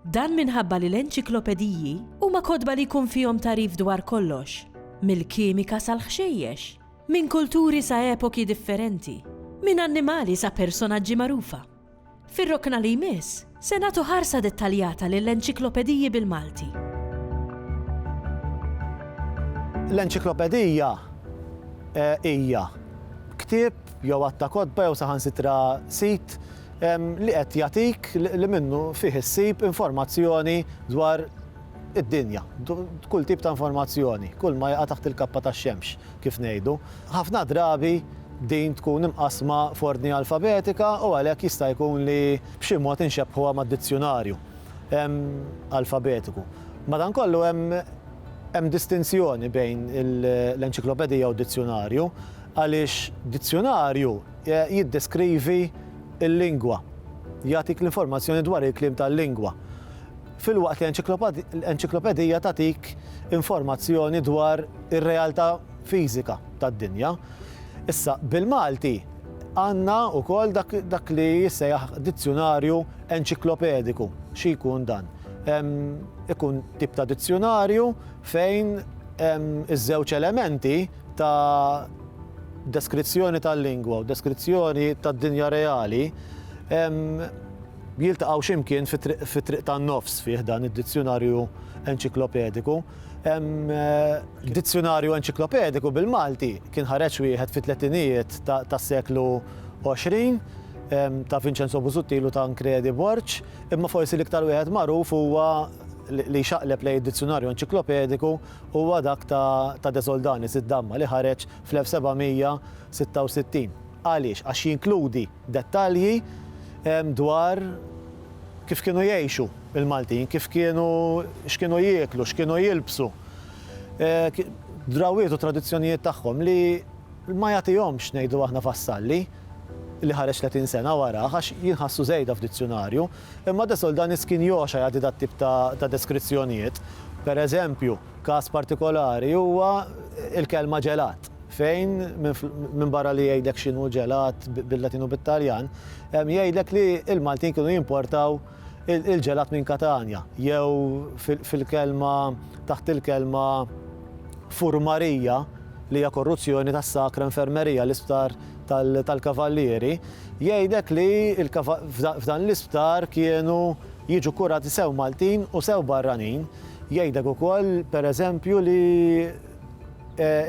Dan minħabba li l-enċiklopediji huma kotba li jkun fihom tagħrif dwar kollox, mill-kimika sal-ħxejjex, minn kulturi sa epoki differenti, minn annimali sa personaġġi magħrufa. Fir-rokna li jmiss, se nagħtu ħarsa dettaljata lill-enċiklopediji bil-Malti. L-enċiklopedija hija ktieb jew għadd ta' kotba jew saħansitra sit li qed jagħtik li minnu fih issib informazzjoni dwar id-dinja, kull tip ta' informazzjoni, kull ma jaqa' taħt il-kappa tax-xemx, kif ngħidu. Ħafna drabi din tkun imqassma f'ordni alfabetika u għalhekk jista' jkun li b'xi mod inxebbħuha mad-dizzjunarju alfabetiku. Madankollu hemm distinzjoni bejn l-enċiklopedija u d-dizzjunarju għaliex dizzjunarju, jiddeskrivi l-lingwa, jagħtik l-informazzjoni dwar il-kliem tal-lingwa, filwaqt li enċiklopedija tagħtik informazzjoni dwar ir-realtà fiżika tad-dinja. Issa, bil-Malti għandna wkoll dak li jissejjaħ dizzjunarju enċiklopediku. Xi jkun dan? Ikun tip ta' dizzjunarju fejn iż-żewġ elementi, ta' deskrizzjoni tal-lingwa u deskrizzjoni tad-dinja reali jiltaqgħu xi mkien fit-triq tan-nofs fi ħdan id-Dizzjunarju Enċiklopediku. Dizzjunarju Enċiklopediku bil-Malti kien ħareġ wieħed fit-tletinijiet tas-seklu 20 ta' Vinċenzo Busuttil u Tancredi Borg, imma forsi l-iktar wieħed magħruf huwa li jxaqleb lejn id-Dizzjunarju Enċiklopediku, huwa dak ta' De Soldanis, id-Damma, li ħareġ fl-1766. Għaliex? Għax jinkludi dettalji dwar kif kienu jgħixu l-Maltin, kif kienu, x'kienu jieklu, x'kienu jilbsu, drawwiet u tradizzjonijiet tagħhom li ma jagħtihomx, ngħidu aħna, Vassalli, li ħareġ tletin sena warah, għax jinħassu żejda f'dizzjunarju. Imma De Soldanis kien jogħxa jagħti dat-tip ta' deskrizzjonijiet. Per eżempju, każ partikolari huwa l-kelma ġelat, fejn, minbarra li jgħidlek x'inhu ġelat bil-Latin u bit-Taljan, jgħidlek li l-Maltin kienu jimportaw il-ġelat minn Katanja, jew fil-kelma, taħt il-kelma furmarija, li hija korruzzjoni tas-Sacra Infermeria, l-isptar tal-Kavallieri, jgħidlek li f'dan l-isptar kienu jiġu kkurati sew Maltin u sew barranin. Jgħidlek ukoll, per eżempju, li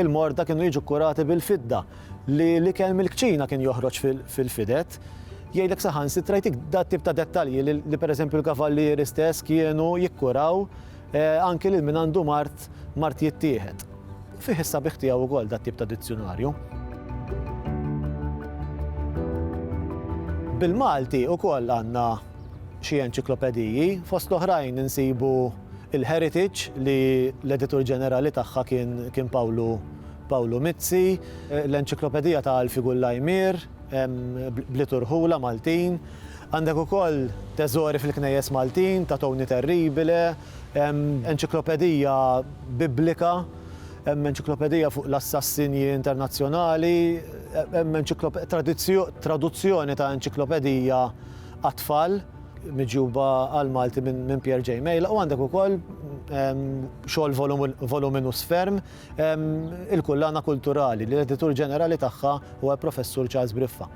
l-morda kienu jiġu kkurati bil-fidda, li l-ikel mill-kċina kien joħroġ fil-fidet. Jgħidlek saħansitra jtik dat-tip ta' dettalji li per eżempju l-Kavallieri stess kienu jikkuraw Anki lil min għandu mard, mard jittieħed. Fih is-sabiħ tiegħu wkoll dat-tip ta' dizzjunarju. Bil-Malti wkoll għandna xi enċiklopediji, fost l-oħrajn insibu il-Heritage li l-editur ġenerali tagħha kien Pawlu Mizzi, l-Enċiklopedija ta' Alfi Gullajmier, bliet u rħula Maltin. Għandek ukoll teżori fil-knejjes Maltin ta' Toni Terribile, enċiklopedija Biblika, enċiklopedija fuq l-assassinji internazzjonali, traduzzjoni ta' enċiklopedija għat-tfal miġjuba għall-Malti minn Pierre J. Mejla u għandek ukoll xogħol voluminus ferm, il-kullana kulturali li l-editur ġenerali tagħha huwa l-Professur Charles Briffa.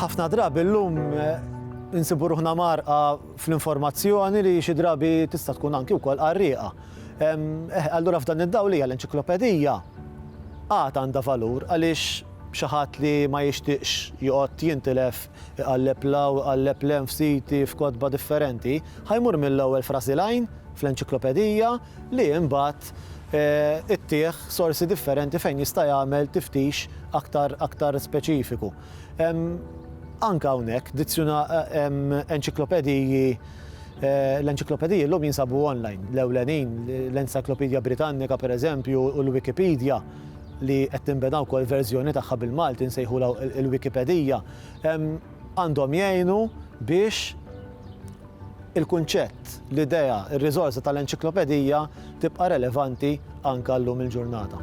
ħafna drabi l-lum eh, nsibu ruħna marqa fl-informazzjoni li xi drabi tista' tkun anki wkoll qarrieqa. Eh, allura f'dan id-dawl hija l-enċiklopedija għad għandha valur għaliex Xi ħadd li ma jixtieqx joqgħod jintilef iqalleb 'l hawn u iqalleb 'l hemm f'siti, f'kotba differenti, ħa jmur mill-ewwel frażi 'l għajn fl-enċiklopedija li imbagħad ittih sorsi differenti fejn jista' jagħmel tiftix aktar aktar speċifiku. Hemm anke hawnhekk dizzjuna hemm enċiklopediji l-enċiklopediji llum jinsabu online, l-ewlenin, l-Encyclopedia Britannica, pereżempju, u l-Wikipedija. li qed tinbena wkoll verżjoni tagħha bil-Malti nsejħulha il-Wikipedija, għandhom jgħinu biex il-kunċett, l-idea, ir-riżorsa tal-enċiklopedija tibqa' relevanti anke llum il-ġurnata.